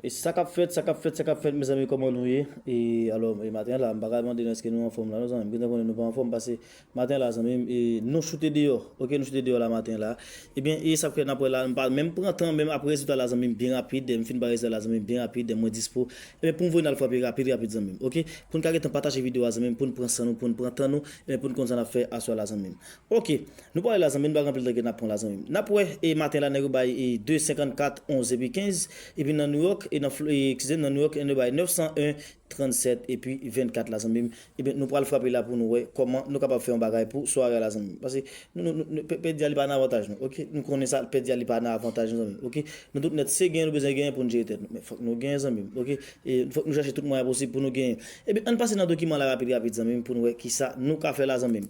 Sakap fèt sakap fèt sakap fèt mezanmi kòman nou ye e alò e maten la mpaka mande nou eske nou anfòm la non zanmim gentan konnen nou pa anfòm pase maten la zanmim e nou choute deyò ok nou choute deyò la maten la ebyen e sak fè nap wè la mpa menm pran tan menm ap rezilta la zanmim byen rapid mfin bay rezilta la zanmim byen rapid mwen dispo ebyen poum voye nal frape rapid rapid zanmim ok poun ka gentan pataje video a zanmim poun pran san nou poun pran tan nou ebyen poun konn sa nap fè aswè la zanmim Ok Nou pale la zanmi nou bag anpil teke nap pran la zanmi m nap wè e maten la nèg yo bay e 2 54 11 epi 15 epi nan nouyòk e nan fl e eskize m nan nouyòk en yo bay 901 37 epi 24 la zanmi m ebyen nou pral frape la pou nou wè kòman nou kapab fè yon bagay pou sware a la zanmi m paske nou nou nou pè pèdi a li pa nan avantaj nou ok nou konnen sa pèdi a li pa nan avantaj nou zanmi m ok nou tout nèt se genyen nou bezwen genyen pou nou jere tèt nou men fòk nou genyen zanmi m ok e fòk nou chache tout mwayen posib pou nou genyen ebyen ann pase nan dokiman la rapid rapid zanmi m pou nou wè kisa nou ka fè la zanmi m.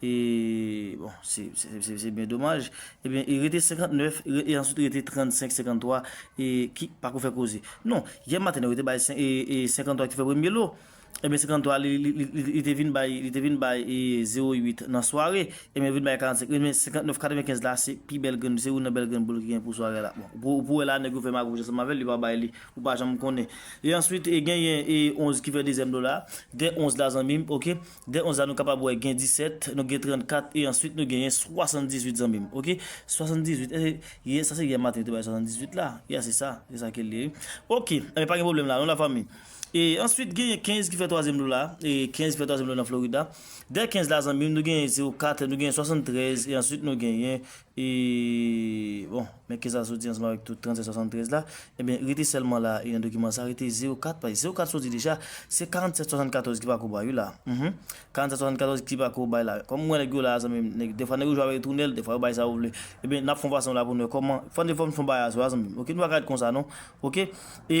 E bon se byen domaj. Ebyen e rete 59 e answit rete 35, 53 e ki pa ko fè koze. Non, yè maten yo te bay 53 ki te fè premye lo. Ebyen 53 li te vin bay, li te vin bay 08 nan sware. Ebyen li vin bay 45, ebyen 59, 95 la se pi bèl grenn, se youn nan bèl grenn boul ki gen pou sware la. Bon, ou wè la nèg yo fè magouj ansanm avèl, li pa bay li, ou pa janm konnen. E answit e genyen e 11 ki fè dezyèm lo la. Gen 11 la zanmim ok. Dè onz la nou kapab wè gen 17, nou gen 34 e answit nou genyen 78 zanmi m ok. 78 eske yè sa se yè maten yo te bay 78 la? Ya se sa, se sa ke l ye wi. Ok enben pa gen pwoblèm la non la fanmi. E answit genyen 15 ki fè twazyèm lo la, 15 ki fè twazyèm lo nan Florida. Dè 15 la zanmi m nou genyen 04, nou genyen 73 e answit nou genyen E bon, men kisa sou di ansanm avèk tout 3773 la? Ebyen, rete sèlman la e nan dokiman sa rete 04 paj. 04 sou di deja, se 4774 ki pako bay wi la. Hum! 4774 ki pako bay la. Kòm mwen nèg yo la zanmim, nèg defwa nèg yo jwe avèk tounèl, defwa yo bay sa yo vle. Ebyen, nap fon pasyans la pou nou wè kòman, fòn de fòm fon bagay aswè a zanmim. Ok, nou paka ret konsa non. Ok! E.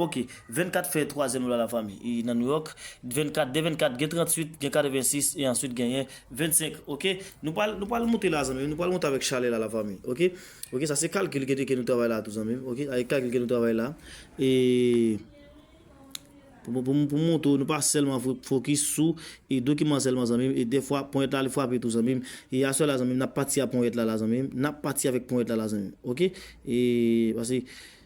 Ok 24 fè twazyèm lwa la fanmi e nan New York 24 de 24 gen 38 gen 86 e answit genyen 25 ok nou pral nou pral moute la zanmim nou pral moute avèk chalè la la fanmi ok ok sa se kalkil ke nou travay la tou zanmim ok a e kalkil ke nou travay la e pou pou m moutre w nou pa sèlman fokis sou e dokiman sèlman zanmim e dèfwa ponyèt la li frape tou zanmim e aswè la zanmim nap pati a ponyèt la la zanmim nap pati avèk ponyèt la la zanmim ok e pase.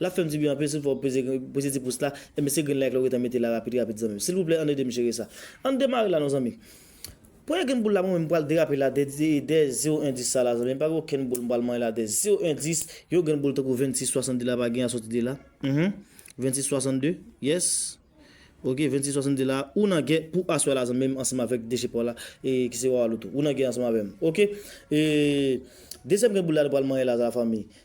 Lap fèm dibyen anpil sil fè ou peze peze ti pous la e mesye grenn like la ou gentan mete la rapid rapid zanmim silvouplè ann edem jere sa ann demare la non zanmi premye grenn boul la mwen menm mpral derape la dè dè zero en dis sa la zanmim pa gen okenn boul mpral manye la dè zero en dis yon grenn boul tankou 26 62 la pa gen a soti de la mph 26 62 yes ok 26 62 la ou nan gè pou aswè la zanmim ansanm avèk deche paw la e ki se wawaloutou ou nan gè ansanm avèm ok e dezyèm grenn boul la nou pral manye la la fanmi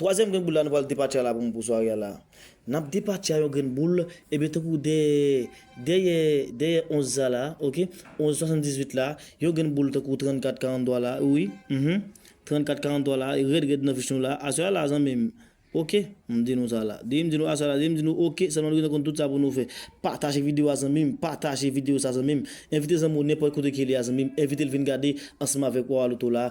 Twazyèm grenn boul la nou pral depatcha la pou mwen pou sware a la. Nap depatcha yon grenn boul ebyen tankou dèyè dèyè dèyè 11 sa la ok 11 78 la yon grenn boul tankou 34 43 la wi mph 34 43 la rèd rèd nan fich nou la aswè a la zanmim ok m di nou sa la depi m di nou aswè a la depi m di nou ok sèlman nou gentan konn tout sa pou nou fè pataje videyo a zanmim pataje videyo sa zanmim envite zanmi w nenpòt kote ke li a zanmim envite l vin gade ansanm avèk Wawalouto la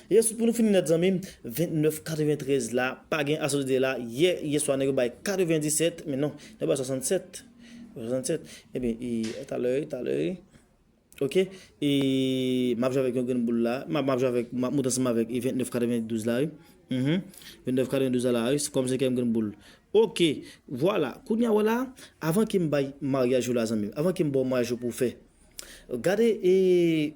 Yes pou nou fini nèt zanmim 29 93 la pa gen asosi de la yè yeswa nèg yo bay 97 men non nèg yo bay 67 67 ebyen ee talè talè ok ee map jwe avèk yon grenn boul la map jwe avèk map moute ansanm avèk 29 92 la wi humm 29 92 la la wi kòm senkyèm grenn boul ok vwala kounya wè la avan kem bay maryaj ou la zanmim avan kem baw maryaj ou pou fè gade ee.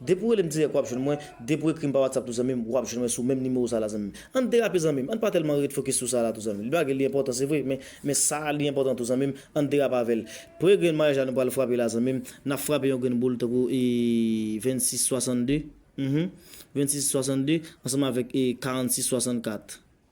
Depi w rele m dirèk wap jwenn mwen, depi w ekri m pa whatsapp tou zanmi m wap jwenn mwen sou menm nimewo sa la zanmi m. Ann derape zanmi m, ann pa tèlman ret fokis sou sa la tou zanmi m. Li bagay li enpòtan se vre men men sa li enpòtan tou zanmi m, ann derape avè l. Premye grenn maryaj la nou pral frape la zanmi m, nap frape yon grenn boul tankou e 26 62 humm 26 62 ansanm avèk e 46 64.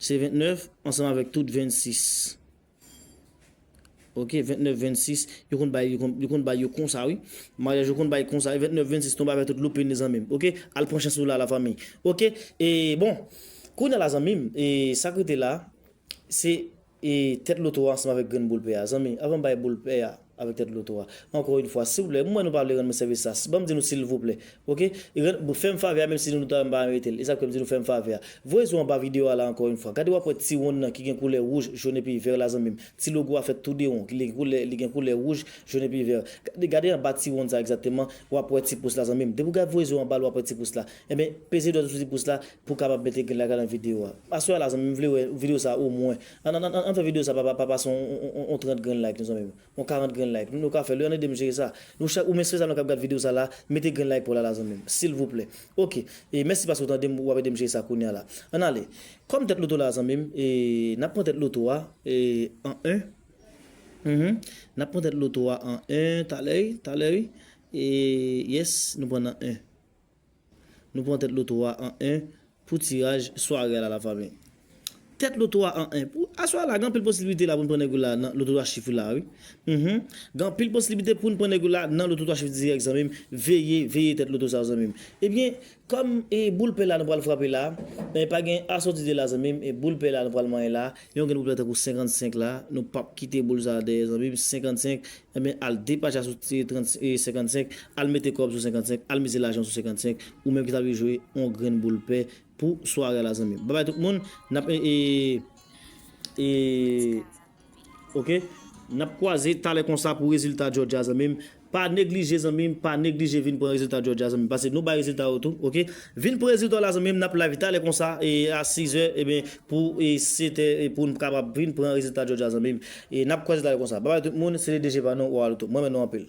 Se 29 ansanm avèk tout 26. Ok 29 26 yo konn bay yo konn bay yo konsa wi maryaj yo konn bay konsa wi 29 26 tonbe avèk tout loupin li zanmim ok al pran chans ou la la fanmi ok e bon kounya la zanmim e sak rete la se e tèt loto a ansanm avèk grenn boul pè a zanmi avanm bay boul pè a Avèk tèt loto a. Ankò yn fwa silvouplè m wè nou pa vle rann mwen sèvis sa s banm di nou silvouplè ok rann fèm favè a menm si nou nou ta wè m pa merite l e sa k fè m di nou fèm favè a voye zo anba video a la ankò yn fwa gade wap wè ti wonn nan ki gen koulè wouj jaune epi vert la zanmim ti logo a fèt tou de won li gen koulè li gen koulè wouj jaune epi vert gade gade anba ti wonn sa egzakteman wap wè ti pous la zanmim depi w gad voye zo anba l wap wè ti pous la enben peze dwèt ou sou ti pous la pou w kapab mete grenn la gad an video a aswè a la zanmim m vle wè video sa omwen An an an an fè video sa pa pa pase yon 30 grenn like non zanmim yon 40 grenn like nou ka fèl wi an edem jere sa nou chak ou mesye sa nou kap gad video sa la mete grenn like paw la la zanmim silvouplè ok e mèsi paske ou tandem wap edem jere sa kounya la an ale kòm tèt loto la zanmim e nap pran tèt loto a e an en humm nap pran tèt loto a an en talè wi talè wi e yes nou pran nan en. Nou pran tèt loto a an 1 pou tiraj sware a la la fanmi. Tèt loto a an 1 pou aswè a la gen anpil posiblite la pou n pran nèg ou la nan loto 3 chif ou la wi Mph gen anpil posiblite pou n pran nèg ou la nan loto 3 chif dirèk zanmi m veye veye tèt loto sa zanmi m Ebyen kòm e boul pè la nou pral frape la e pa gen asòti 2 la zanmi m e boul pè la nou pral manyen la yon grenn boul pè tankou 55 la nou pap kite boul sa dèyè zanmi m 55 Ebyen al depacha sou 55 al mete kòb sou 55 al mize lajan sou 55 ou menm ki ta vle jwe on grenn boul pè pou sware a la zanmim babay tout moun nap ee ok nap kwaze talè konsa pou rezilta jòdya zanmim pa neglije zanmim pa neglije vin pran rezilta jòdya zanmim pase nou bay rezilta yo tou ok vin pran rezilta w la zanmim nap live talè konsa ee a 6 è ebyen Pou se te pou n kapab vin pran rezilta Jòj a zanmi m. E n ap kwè rezilta yo konsa. Babay tout moun, se Ledejeva nou, Wawaloto. M renmen nou anpil.